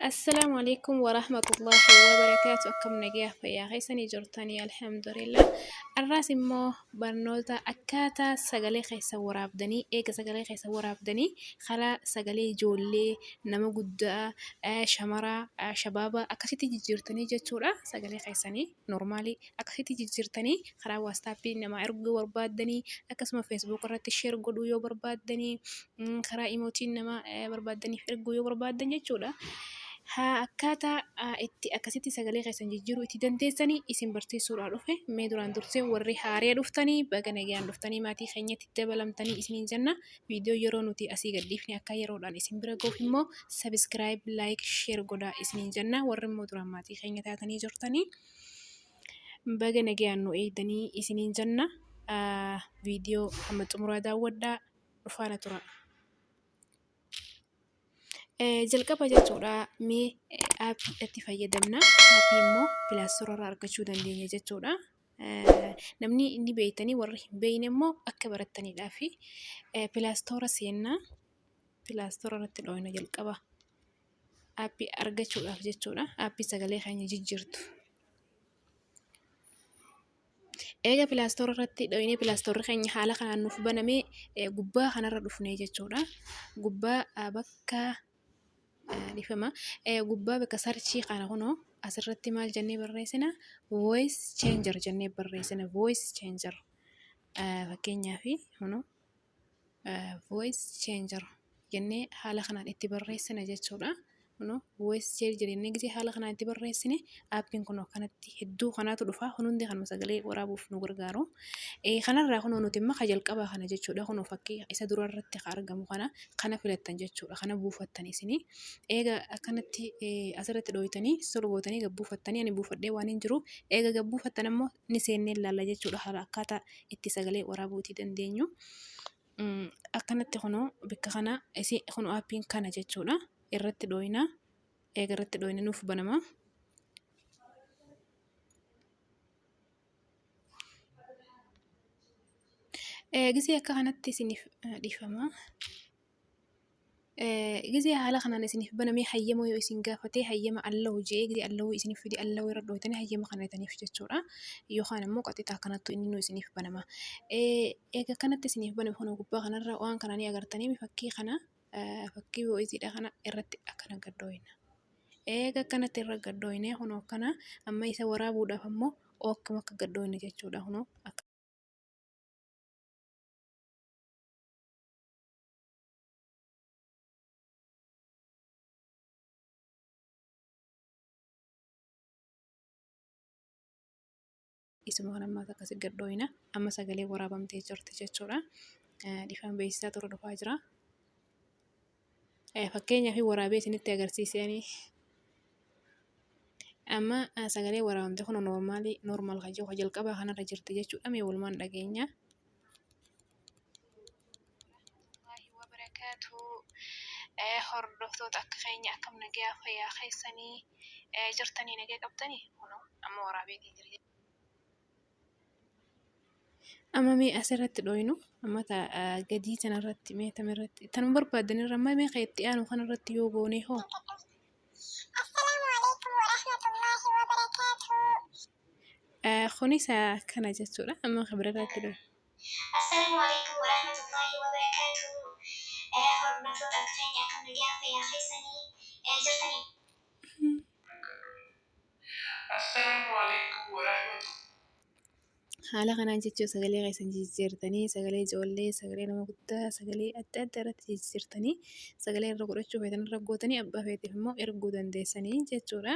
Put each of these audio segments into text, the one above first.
Assalaamu alaikum warahmatullahi wabarakaatu akkam nagayaa fayyaa keessanii jirtanii alhamdulillah arraas immoo barnoota akkaataa sagalee keessa waraabdanii eega sagalee keessa waraabdanii karaa sagalee ijoollee nama guddaa shamaraa shabaabaa akkasitti jijjiirtanii jechuudha sagalee keessanii Normaalii akkasitti jijjiirtanii karaa waastaappii namaa erguu yoo barbaaddanii akkasuma feesbuuk irratti sheer godhuu yoo barbaaddanii karaa imootiin namaa barbaaddaniif erguu yoo barbaaddan jechuudha. Haa akkaataa itti akkasitti sagalee keessan jijjiiruu itti dandeessanii isin barsiisuudhaa dhufe mee duraan dursee warri haaree dhuftanii baga nagaan dhuftanii maatii keenyatti dabalamtanii isiniin jenna. Viidiyoo yeroo nuti asii gad dhiifne akka yeroodhaan isin bira gahuuf immoo sabiskiraayib, laayik, sheer godhaa isiniin jenna. Warri immoo duraan maatii keenya taatanii jirtanii baga nagayaan nu eegdanii isiniin jenna. Viidiyoo hamma xumuraa daawwadhaa dhufaana tura. Jalqaba jechuudha mee aappii itti fayyadamna. Aappii immoo pilaastorarraa argachuu dandeenya jechuudha. Namni ni beektanii warri hin beekne immoo akka barattaniidhaa fi pilaastoora seennaa pilaastoora irratti dhooyna jalqaba. Aappii argachuudhaaf jechuudha. Aappii sagalee keenya jijjiirtu. Eega pilaastoora irratti dhooynee pilaastoorri keenya haala kanaan nuuf banamee gubbaa kanarra dhufnee jechuudha. Gubbaa bakka Dhifama gubbaa bakka sarchii kana kunoo asirratti maal jennee barreessina voice changer jennee barreessina voice changer fakkeenyaaf kunoo voice changer jennee haala kanaan itti barreessina jechuudha. Kunoo voice changer jennee haala kanaan itti barreessina. Aappiin kun akkanatti hedduu kanaatu dhufa. Kun hundi kanuma sagalee waraabuuf nu gargaaru. Eh, Kanarraa kunoo nuti immoo ka jalqabaa kana jechuudha. Kunoo fakkii isa dura irratti ka argamu kana kana filattan jechuudha. Kana buufattan isinii. Eega akkanatti eh, asirratti dhooytanii solo gootanii gad buufattanii ani buufadhee waan hin jiruuf eega gad buufattan ammoo ni seennee ilaalla jechuudha. Haala akkaataa itti sagalee waraabuutii dandeenyu. Mm, Akkanatti kunoo bakka kana isi kunoo aappiin kana jechuudha. Irratti dhooyna. eega irratti dhooyne nuuf banama. Gisee akka kanatti isiniif dhiifama. Gisee haala kanaan isiniif banamee hayyama yoo isin gaafatee hayyama allahu je'ee gisee allahu isiniif fide allahu irra dhooytanii hayyama kanataniif jechuudha. Yookaan ammoo qaxxitaa kanattu inni nu isiniif banama. Eega kanatti isiniif baname kana gubbaa kanarra waan kana ni agartanii fakkii kana. fakkii voice kana irratti akkana gad dhooyna. Eega akkanatti irra gad dhooyne kunoo akkana amma isa waraabuudhaaf ammoo akkuma akka gad dhooyne jechuudha kunoo akka Isuma waan ammaas akkasi gad dhooyina. Amma sagalee waraabamtee jirti jechuudha. Dhifaan beeksisaa tura dhufaa jira. Fakkeenyaaf waraabee isinitti agarsiisanii. Amma sagalee waraabamte kun noormaalii noormaal kan jiru jalqabaa kanarra jirti jechuudha. Mee walumaan dhageenya. Amma mee asirratti dhooynu amma gadii kanarratti mee tamirratti tanuma barbaadan irra amma mee kan itti aanu kanarratti yoo goonee hoo kunis akkana jechuudha amma kan birarratti dhooynu. Assalaamu Aleeykum Warahmatullaahi Wabarakaatuh Hordoftoota keenya akkam nagayaa fayyaa keessanii jirtanii. Assalaamu Aleeykum Warahmatullaahi. Haala kanaan jechuun sagalee keessan jijjiirtanii sagalee ijoollee sagalee nama guddaa sagalee adda addaa irratti jijjiirtanii sagalee irra godhachuu feetan irra gootanii abbaa feeteef immoo erguu dandeessanii jechuudha.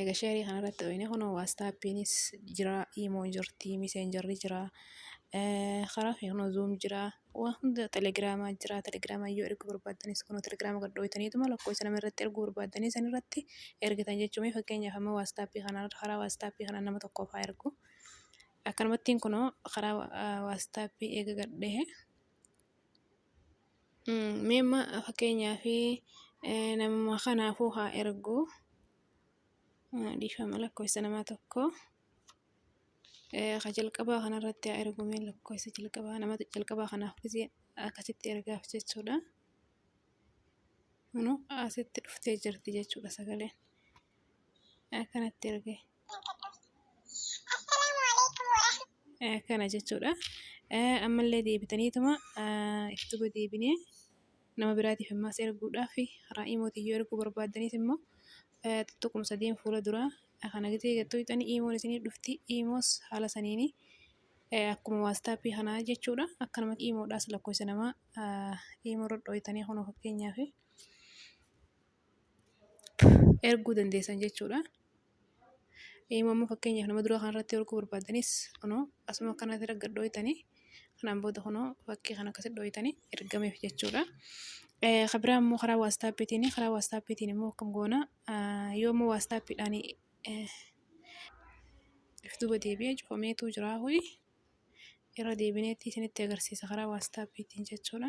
Eega sheerii kanarratti dhooyne kunoo waastaappiinis jira, iimoon jirti, miseenjarri jira, karaa keenya kunoo zuum jira, waa hunda telegiraamaa jira, telegiraamaan yoo erguu barbaaddanis kunoo telegiraama gad dhooytaniituma lakkoofsa nama irratti erguu barbaaddanii sanirratti ergitan jechuu. Mee fakkeenyaaf amma waastaappii kanaa karaa waastaappii kanaan nama tokkoof haa ergu. Akkanumattiin kunoo karaa waastaappii eega gad dhahe. Mee amma fakkeenyaaf namuma kanaafuu haa ergu dhiifama lakkoofsa nama tokko ka jalqabaa kanarratti haa ergu mee lakkoofsa jalqabaa nama jalqabaa kanaaf gisee akkasitti ergaaf jechuudha. Kunu asitti dhuftee jirti jechuudha sagaleen akkanatti ergee. Kana jechuudha. Ammallee deebitaniituma itti deebinee nama biraatiif ammaas erguudhaaf karaa imootiin yoo erguu barbaaddanis immoo tuquma sadiin fuula duraa kana gisee gad tuqxanii imoon isiniif dhufti. Imoos haala saniini akkuma waastaappii kanaa jechuudha. Akkanumatti imoodhaas lakkoofsa namaa imoorra dhooytanii kunoo fakkeenyaaf. erguu dandeessan jechuudha. Eeyyama immoo fakkeenyaaf nama duraa kanarratti erguu barbaaddanis kunoo asuma kanatti gad dhooytanii kanaan booda kunoo fakkii kana akkasitti dhooytanii ergameef jechuudha. Kan biraa immoo karaa waastaappiitiin karaa waastaappiitiin immoo akkam goona yoo immoo waastaappiidhaan if duuba deebi'ee cufameetu jira ho'i irra deebineetti isinitti agarsiisa karaa waastaappiitiin jechuudha.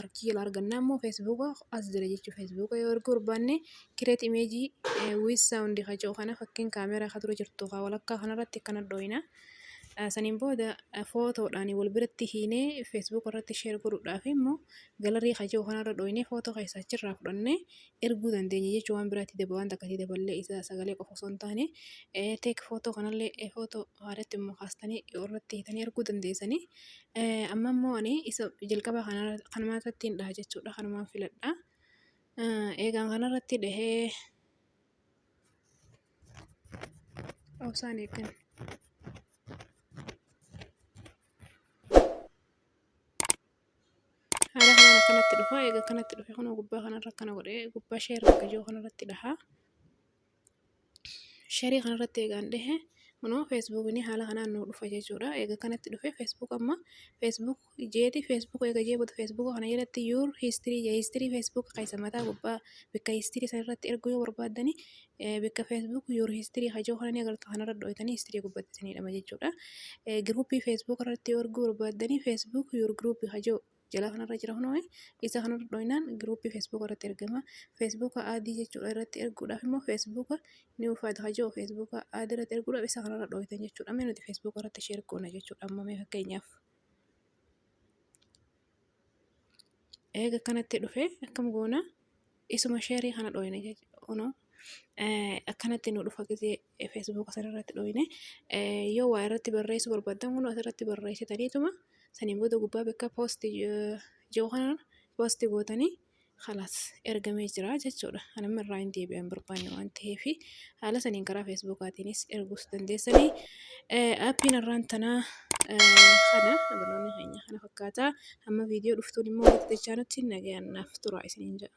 Archii jedha argannaa immoo feesbuuka as jira jechuudha. Feesbuuka yoo erguu barbaanne kireet imeejii wiis saawundi kaca'u kana fakkiin kaameeraa kan dura jirtu haa walakkaa kanarratti akkana dhooyina. Saniin booda footoodhaan wal biratti hiinee feesbuuka irratti sheer godhuudhaaf immoo galarii kaca'u kanarra dhooyinee footoo keessaa achirraa fudhannee erguu dandeenya jechuudha. Waan biraatti daba waan takka itti daballee isa sagalee qofa osoo hin taane teek footoo kanallee footoo haadhatti immoo kaastanii irratti hiitanii erguu dandeessanii. Amma immoo ani isa jalqaba kanuma irrattiin dhaha jechuudha. Kanumaan filadha. Eegaan kanarratti dhahee obsaan eeggan. Haala kanaan akkanatti dhufa. Eega akkanatti dhufe kunoo gubbaa kanarra akkana godhee gubbaa share akka jiru kanarratti dhaha. Sherii kana irratti eegaan dhehe kunoo feesbuukni haala kanaan nuu dhufa jechuudha. Eega kanatti dhufe feesbuuk amma feesbuuk jeeti feesbuuk eega jee booda feesbuuk kana jalatti yuur hiistirii jee hiistirii feesbuuk keessa mataa gubbaa bakka hiistirii san irratti erguu yoo barbaaddani bakka feesbuuk yuur hiistirii kan jedhu kana ni agartu kana irra dhooytanii hiistirii gubbatti isinii dhama jechuudha. Giruuppii feesbuuk irratti yoo erguu barbaaddani feesbuuk yuur giruuppii kan jedhu. jala kanarra jira kunoo isa kanarra dhooynaan giruuppii feesbuuka irratti ergama feesbuuka aadii jechuudha irratti erguudhaaf immoo feesbuuka ni ufaata hajoo feesbuuka aadii irratti erguudhaaf isa kanarra dhooytan jechuudha mee nuti feesbuuka irratti sheer goona jechuudha ammoo mee fakkeenyaaf eega kanatti dhufe akkam goona isuma sheerii kana dhooyne jechuudha. Akkanatti nu dhufa gisee feesbuuka sanarratti dhooyne yoo waa irratti barreessuu barbaaddan kun asirratti barreessitaniituma saniin booda gubbaa bakka poosti jiru kanaan poosti gootanii kalaas ergamee jira jechuudha. Kan amma irraa hin deebi'an barbaanne waan ta'eef haala saniin karaa feesbuukaatiinis erguus dandeessanii appiin irraan tanaa kana barnoonni keenya kana fakkaataa. Hamma viidiyoo dhuftuun immoo walitti dachaanutti nagayaan naaf turaa isiniin jedha.